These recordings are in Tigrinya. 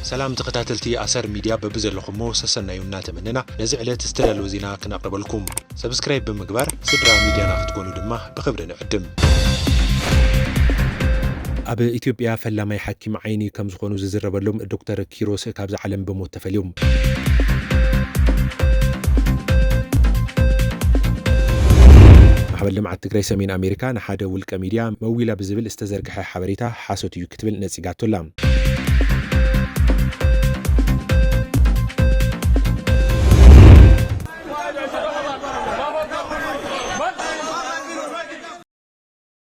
ሰላም ተኸታተልቲ ኣሰር ሚድያ በብዘለኹሞ ሰሰናዩ እናተመነና ነዚ ዕለት ዝተዳለወ ዜና ክነቕርበልኩም ሰብስክራይብ ብምግባር ስድራ ሚድያና ክትኮኑ ድማ ብኽብሪ ንዕድም። ኣብ ኢትዮጵያ ፈላማይ ሓኪም ዓይኒ ከም ዝኾኑ ዝዝረበሎም ዶክተር ኪሮስ ካብዚ ዓለም ብሞት ተፈልዩ። ማሕበር ልምዓት ትግራይ ሰሜን ኣሜሪካ ንሓደ ውልቀ ሚድያ መዊላ ብዝብል ዝተዘርግሐ ሓበሬታ ሓሶት እዩ ክትብል ነፂጋቶ ኣላ።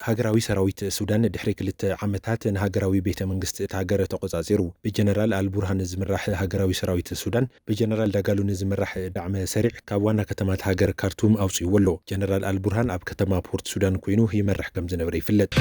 ሃገራዊ ሰራዊት ሱዳን ድሕሪ ክልተ ዓመታት ንሃገራዊ ቤተ መንግስቲ እታ ሃገር ተቖጻጺሩ። ብጀነራል ኣል ቡርሃን ዝምራሕ ሃገራዊ ሰራዊት ሱዳን ብጀነራል ዳጋሎ ንዝምራሕ ዳዕመ ሰሪዕ ካብ ዋና ከተማ እታ ሃገር ካርቱም ኣውጺእዎ ኣሎ። ጀነራል ኣል ቡርሃን ኣብ ከተማ ፖርት ሱዳን ኮይኑ ይመርሕ ከም ዝነበረ ይፍለጥ።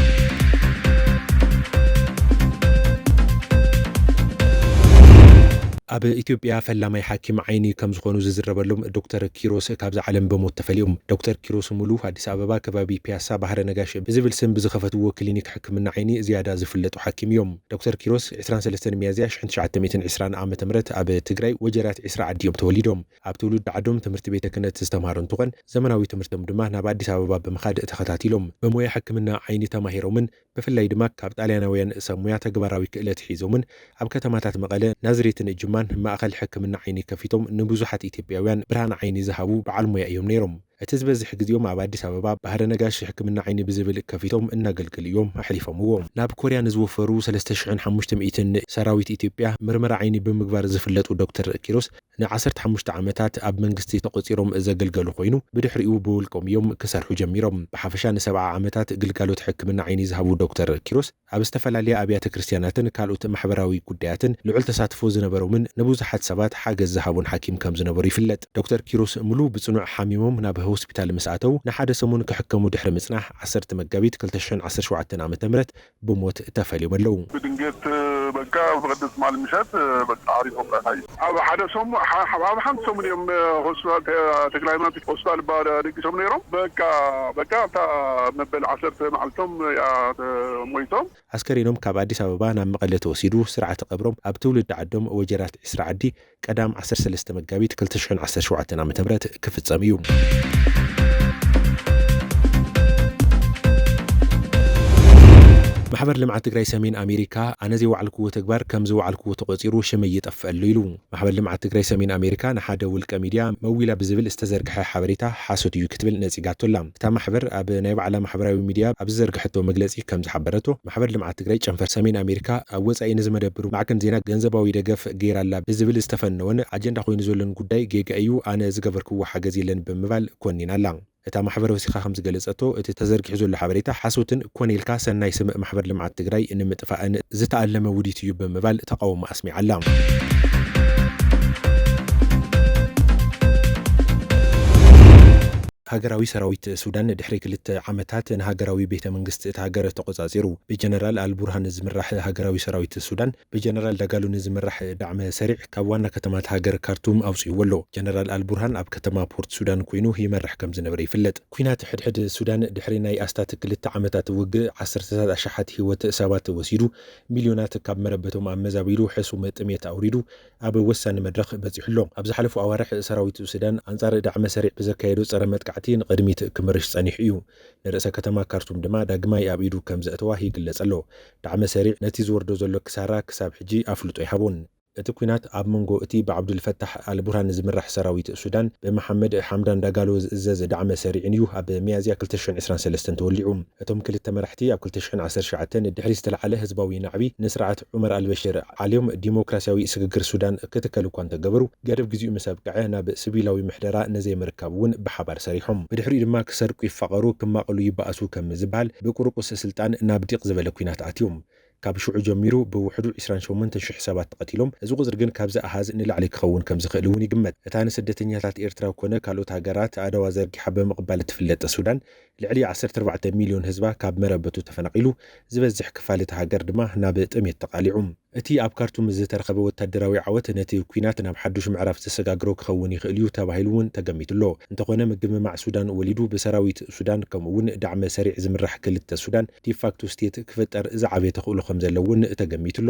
ኣብ ኢትዮጵያ ፈላማይ ሓኪም ዓይኒ ከም ዝኾኑ ዝዝረበሎም ዶክተር ኪሮስ ካብዛ ዓለም ብሞት ተፈልዮም። ዶክተር ኪሮስ ሙሉ፣ ኣዲስ ኣበባ ከባቢ ፒያሳ ባህረ ነጋሽ ብዝብል ስም ብዝኸፈትዎ ክሊኒክ ሕክምና ዓይኒ ዝያዳ ዝፍለጡ ሓኪም እዮም። ዶክተር ኪሮስ ዕስራን ሰለስተን ሚያዝያ ሽሕን ትሽዓተ ሚእትን ዕስራን ዓ ም ኣብ ትግራይ ወጀራት ዒስራ ዓዲ እዮም ተወሊዶም። ኣብ ትውልዲ ዓዶም ትምህርቲ ቤተ ክህነት ዝተምሃሩ እንትኾን ዘመናዊ ትምህርቶም ድማ ናብ ኣዲስ ኣበባ ብምኻድ ተኸታቲሎም። ብሞያ ሕክምና ዓይኒ ተማሂሮምን ብፍላይ ድማ ካብ ጣልያናውያን ሰብ ሙያ ተግባራዊ ክእለት ሒዞምን ኣብ ከተማታት መቐለ፣ ናዝሬትን ጅማን ማእኸል ሕክምና ዓይኒ ከፊቶም ንብዙሓት ኢትዮጵያውያን ብርሃን ዓይኒ ዝሃቡ በዓል ሙያ እዮም ነይሮም። እቲ ዝበዝሕ ግዜኦም ኣብ ኣዲስ ኣበባ ባህረ ነጋሽ ሕክምና ዓይኒ ብዝብል ከፊቶም እናገልገሉ እዮም ኣሕሊፎምዎ። ናብ ኮርያ ንዝወፈሩ ሰለስተ ሽሕን ሓሙሽተ ሚእትን ሰራዊት ኢትዮጵያ ምርመራ ዓይኒ ብምግባር ዝፍለጡ ዶክተር ኪሮስ፣ ን ዓሰርተ ሓሙሽተ ዓመታት ኣብ መንግስቲ ተቖጺሮም ዘገልገሉ ኮይኑ ብድሕሪኡ ብውልቆም እዮም ክሰርሑ ጀሚሮም። ብሓፈሻ ን ሰብዓ ዓመታት ግልጋሎት ሕክምና ዓይኒ ዝሃቡ ዶክተር ኪሮስ ኣብ ዝተፈላለያ ኣብያተ ክርስትያናትን ካልኦት ማሕበራዊ ጉዳያትን ልዑል ተሳትፎ ዝነበሮምን ንብዙሓት ሰባት ሓገዝ ዝሃቡን ሓኪም ከም ዝነበሩ ይፍለጥ። ዶክተር ኪሮስ ሙሉ ብጽኑዕ ሓሚሞም ናብ ሆስፒታል ምስ ኣተው ንሓደ ሰሙን ክሕከሙ ድሕሪ ምጽናሕ ዓሰርተ መጋቢት ክልተ ሽሕን ዓሰርተ ሸውዓተን ዓመተ ምህረት ብሞት ተፈልዮም ኣለዉ። ብድንገት በቃ ኣብዚ ቅድም ትማሊ ምሸት በቃ ዓሪፎም ራእናዮ። ኣብ ሓደ ሰሙን ኣብ ሓንቲ ሰሙን እዮም ሆስፒታል ተክለሃይማኖት ሆስፒታል እባ ደቂሶም ነይሮም በቃ በቃ ኣብታ መበል ዓሰርተ መዓልቶም እያ ሞይቶም። ኣስከሬኖም ካብ ኣዲስ ኣበባ ናብ መቐለ ተወሲዱ ስርዓተ ቀብሮም ኣብ ትውልዲ ዓዶም ወጀራት ዒስራ ዓዲ ቀዳም ዓሰርተ ሰለስተ መጋቢት ክልተ ሽሕን ዓሰርተ ሸውዓተን ዓመተ ምህረት ክፍጸም እዩ። ማሕበር ልምዓት ትግራይ ሰሜን ኣሜሪካ ኣነ ዘይወዓልክዎ ተግባር ከም ዝወዓልክዎ ተቖፂሩ ሽመይ ይጠፍእ ኣሎ ኢሉ። ማሕበር ልምዓት ትግራይ ሰሜን ኣሜሪካ ንሓደ ውልቀ ሚድያ መዊላ ብዝብል ዝተዘርግሐ ሓበሬታ ሓሶት እዩ ክትብል ነፂጋቶ ኣላ። እታ ማሕበር ኣብ ናይ ባዕላ ማሕበራዊ ሚድያ ኣብ ዝዘርግሐቶ መግለፂ ከም ዝሓበረቶ፣ ማሕበር ልምዓት ትግራይ ጨንፈር ሰሜን ኣሜሪካ ኣብ ወፃኢ ንዝመደብር ማዕከን ዜና ገንዘባዊ ደገፍ ገይራ'ላ ብዝብል ዝተፈነወን ኣጀንዳ ኮይኑ ዘሎን ጉዳይ ጌጋ እዩ፣ ኣነ ዝገበርክዎ ሓገዝ የለን ብምባል ኮኒና'ላ። እታ ማሕበር ወሲኻ ከምዝገለፀቶ፣ እቲ ተዘርጊሑ ዘሎ ሓበሬታ ሓሶትን ኮነ ኢልካ ሰናይ ስም ማሕበር ልምዓት ትግራይ ንምጥፋእን ዝተኣለመ ውዲት እዩ ብምባል ተቓውማ ኣስሚዓ'ላ። ሃገራዊ ሰራዊት ሱዳን ድሕሪ ክልተ ዓመታት ንሃገራዊ ቤተ መንግስቲ እታ ሃገር ተቖጻጺሩ። ብጀነራል ኣል ቡርሃን ዝምራሕ ሃገራዊ ሰራዊት ሱዳን፣ ብጀነራል ዳጋሎ ንዝምራሕ ዳዕመ ሰሪዕ ካብ ዋና ከተማ እታ ሃገር ካርቱም ኣውጺእዎ ኣሎ። ጀነራል ኣል ቡርሃን ኣብ ከተማ ፖርት ሱዳን ኰይኑ ይመርሕ ከም ዝነበረ ይፍለጥ። ኲናት ሕድሕድ ሱዳን ድሕሪ ናይ ኣስታት ክልተ ዓመታት ውግእ ዓሰርተታት ኣሽሓት ህይወት ሰባት ወሲዱ፣ ሚልዮናት ካብ መረበቶም ኣመዛቢሉ፣ ሕሱም ጥሜት ኣውሪዱ፣ ኣብ ወሳኒ መድረኽ በጺሑ ኣሎ። ኣብ ዝሓለፉ ኣዋርሕ ሰራዊት ሱዳን ኣንጻር ዳዕመ-ሰሪዕ ብዘካየዶ ጸረ-መጥቃዕቲ ንቕድሚት ክምርሽ ጸኒሑ እዩ። ንርእሰ ከተማ ካርቱም ድማ ዳግማይ ኣብ ኢዱ ከም ዘእተዋ ይግለጽ ኣሎ። ዳዕመ-ሰሪዕ ነቲ ዝወርዶ ዘሎ ክሳራ ክሳብ ሕጂ ኣፍልጦ ኣይሃቦን። እቲ ኲናት ኣብ መንጎ እቲ ብዓብዱል ፈታሕ ኣል ቡርሃን ዝምራሕ ሰራዊት ሱዳን ብመሓመድ ሓምዳን ዳጋሎ ዝእዘዝ ዳዕመ-ሰሪዕን እዩ ኣብ ሚያዝያ ክልተ ሽሕን ዕስራን ሰለስተን ተወሊዑ። እቶም ክልተ መራሕቲ ኣብ ክልተ ሽሕን ዓሰርተ ትሽዓተን ድሕሪ ዝተለዓለ ህዝባዊ ናዕቢ ንስርዓት ዑመር ኣልበሽር ዓልዮም ዲሞክራሲያዊ ስግግር ሱዳን ክትከል እኳ እንተገበሩ፣ ገደብ ግዜኡ ምስ ኣብቅዐ ናብ ስቪላዊ ምሕደራ ንዘይምርካብ እውን ብሓባር ሰሪሖም። ብድሕሪኡ ድማ ክሰርቁ ይፋቐሩ ክማቐሉ ይበኣሱ ከም ዝበሃል ብቁሩቁስ ስልጣን ናብ ዲቕ ዝበለ ኲናት ኣትዮም። ካብ ሽዑ ጀሚሩ ብውሕዱ ዕስራን ሸሞንተን ሽሕ ሰባት ተቐቲሎም፣ እዚ ቁጽሪ ግን ካብዚ ኣሃዝ ንላዕሊ ክኸውን ከም ዝኽእል እውን ይግመት። እታ ንስደተኛታት ኤርትራ ኰነ ካልኦት ሃገራት ኣእዳዋ ዘርጊሓ ብምቕባል እትፍለጥ ሱዳን፣ ልዕሊ ዓሰርተ ኣርባዕተ ሚልዮን ህዝባ ካብ መረበቱ ተፈናቒሉ፣ ዝበዝሕ ክፋል እታ ሃገር ድማ ናብ ጥሜት ተቓሊዑ። እቲ ኣብ ካርቱም ዝተረኸበ ወታደራዊ ዓወት ነቲ ኲናት ናብ ሓዱሽ ምዕራፍ ዘሰጋግሮ ክኸውን ይኽእል'ዩ ተባሂሉ'ውን ተገሚቱ'ሎ። እንተኾነ ምግምማዕ ሱዳን ወሊዱ ብሰራዊት ሱዳን ከምኡ'ውን ዳዕመ ሰሪዕ ዝምራሕ ክልተ ሱዳን፣ ዲፋክቶ ስቴት፣ ክፍጠር ዝዓበየ ተኽእሎ ከምዘሎ'ውን ተገሚቱ'ሎ።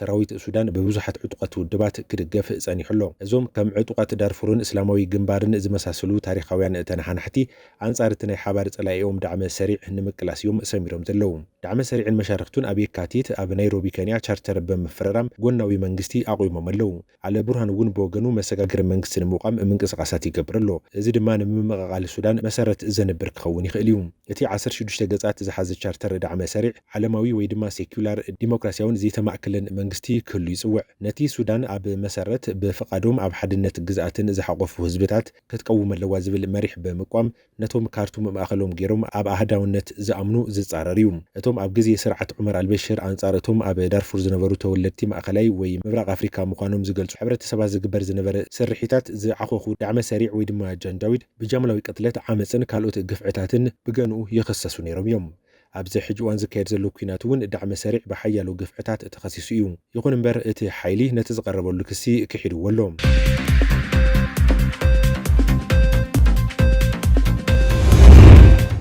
ሰራዊት ሱዳን ብብዙሓት ዕጡቓት ውድባት ክድገፍ ጸኒሑ ኣሎ። እዞም ከም ዕጡቓት ዳርፉርን እስላማዊ ግንባርን ዝመሳሰሉ ታሪኻውያን ተነሓናሕቲ፣ ኣንጻር እቲ ናይ ሓባር ጸላኢኦም ዳዕመ ሰሪዕ ንምቅላስ እዮም ሰሚሮም ዘለዉ። ዳዕመ ሰሪዕን መሻርኽቱን ኣብ የካቲት ኣብ ናይሮቢ ከንያ ቻርተር ብምፍርራም ጎናዊ መንግስቲ ኣቑሞም ኣለዉ። ዓለ ቡርሃን እውን ብወገኑ መሰጋገሪ መንግስቲ ንምቛም ምንቅስቓሳት ይገብር ኣሎ። እዚ ድማ ንምምቕቓል ሱዳን መሰረት ዘንብር ክኸውን ይኽእል እዩ። እቲ ዓሰርተ ሽዱሽተ ገጻት ዝሓዘ ቻርተር ዳዕመ ሰሪዕ፣ ዓለማዊ ወይ ድማ ሴኩላር፣ ዲሞክራሲያውን ዘይተማእከለን መንግስቲ ክህሉ ይጽውዕ። ነቲ ሱዳን ኣብ መሰረት ብፍቓዶም ኣብ ሓድነት ግዝኣትን ዝሓቖፉ ህዝብታት ክትቀውም ኣለዋ ዝብል መሪሕ ብምቋም፣ ነቶም ካርቱም ማእኸሎም ገይሮም ኣብ ኣሃዳውነት ዝኣምኑ ዝፃረር እዩ። እቶም ኣብ ግዜ ስርዓት ዑመር ኣልበሽር ኣንፃር እቶም ኣብ ዳርፉር ዝነበሩ ተወለድቲ ማእኸላይ ወይ ምብራቕ ኣፍሪካ ምዃኖም ዝገልፁ ሕብረተሰባት ዝግበር ዝነበረ ስርሒታት ዝዓኾኹ ዳዕመ ሰሪዕ ወይ ድማ ጃንጃዊድ ብጃምላዊ ቅትለት፣ ዓመፅን ካልኦት ግፍዕታትን ብገንኡ ይኽሰሱ ነይሮም እዮም። ኣብዚ ሕጂ እዋን ዝካየድ ዘሎ ኲናት እውን ዳዕመ-ሰሪዕ ብሓያሎ ግፍዕታት ተኸሲሱ እዩ። ይኹን እምበር እቲ ሓይሊ ነቲ ዝቐረበሉ ክሲ ክሒድዎ ኣሎ።